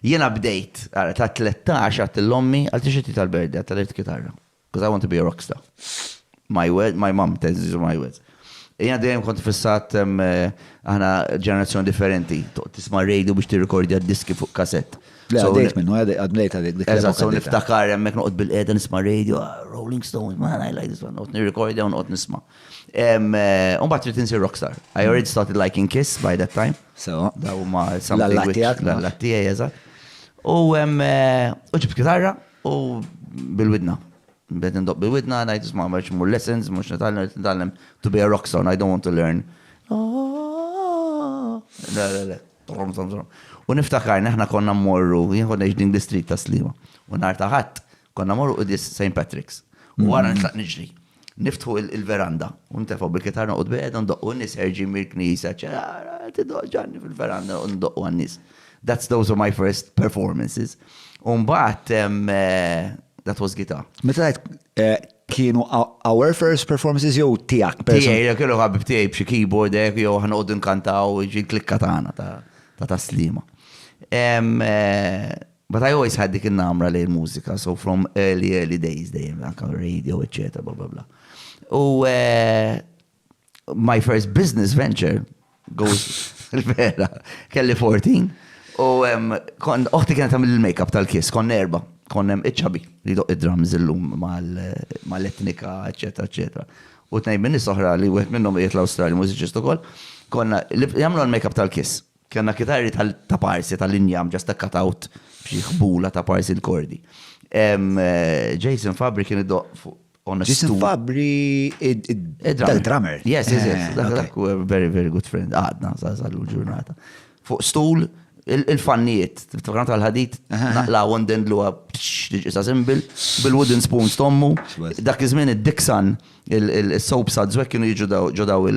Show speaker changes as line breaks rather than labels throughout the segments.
Jiena bdejt, ara, ta' tlettax għadt lil ommi, għal tixtri titgħal birthday, għad taliet kitarra. Because I want to be a rock star. My word, my mom, these are my words. Jiena dejjem kont fissat, aħna ġenerazzjoni differenti, tisma' radio biex tirrikordja d-diski fuq kasett. Le, għaddejt minnu,
għad mlejt għalik dik. Eżatt, so niftakar
hemmhekk noqgħod bil-qiegħda nisma' radio, Rolling Stones, man, I like this one, noqgħod nirrikordja u noqgħod nisma'. Umbat trid insir rockstar. I already started liking Kiss by that time. So, da huma
something
which l-allat tiegħi eżatt. U ġibt kitarra u bil-widna. Bed indoq bil-widna, ngħid isma' ma mur lessons, mhux nitgħallem, nitgħallem to be a rock song, I don't want to learn. Le, le, le. U niftakar, neħna konna mmorru, jien konna din l-istrit ta' slima. U nar taħat, Konna morru qudis St. Patrick's. U wara nitlaq niġri. Niftħu il-veranda. U nitefgħu bil-kitarra noqgħod bejda ndoqqu n-nies ħerġin mill-knisja. Tidoq ġanni fil-veranda u ndoqqu għan-nies. That's those are my first performances. U mbagħad eh, that was guitar. Meta eh,
kienu our first performances jew tiegħek person? Tiegħi, kienu ħabib
tiegħi b'xi keyboard hekk jew aħna qogħdu nkantaw ġi klikka tagħna ta' taslima. Eh, But I always had dik in-namra lejn il-mużika, so from early early days dejjem anke r-radio eċċetera bla bla bla. U my first business venture goes il-vera kelli 14 u kon oħti kienet tagħmel il-makeup tal-kiss kon erba kon hemm iċ-ċabi li doq id-drums illum mal-etnika eċetera eċetera. U tnejn minn nies oħra li wieħed minnhom qiegħed l-Awstralja mużiċist ukoll konna jagħmlu l-makeup tal-kiss Kellna kitarri ta' parsi tal-injam ġa stakkat out b'xi ħbula ta' parsi l-kordi. Jason Fabri kien idoqq fuq on a stool. Jason Fabri
id-drummer. Yes, yes, yes.
Dak huwa very, very good friend. Għadna sal-lum ġurnata. Fuq stool il-fannijiet, tiftakar tal-ħadid, naqlaw u ndendlu għab-xġiġisa simbil, bil-wooden spoon stommu. Dak iż-żmien id-diksan, il-soap sad zwek kienu jiġu ġodaw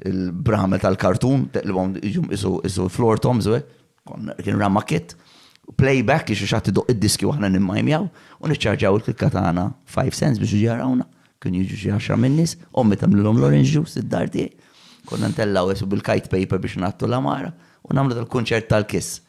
il-bramel tal-kartun, li għom iġum isu floor toms, eh? kien rama kit, playback li xuxat idoq id-diski u ħna nimmajmjaw, u niċċarġaw il-klikka tagħna 5 cents biex ġarawna, kien jiġu xi 10 minnis, ommi tamlilhom l-orange juice id-dar tiegħi, konna ntellaw esu bil-kite paper biex nattu l-amara, u namlu tal-kunċert tal-kiss.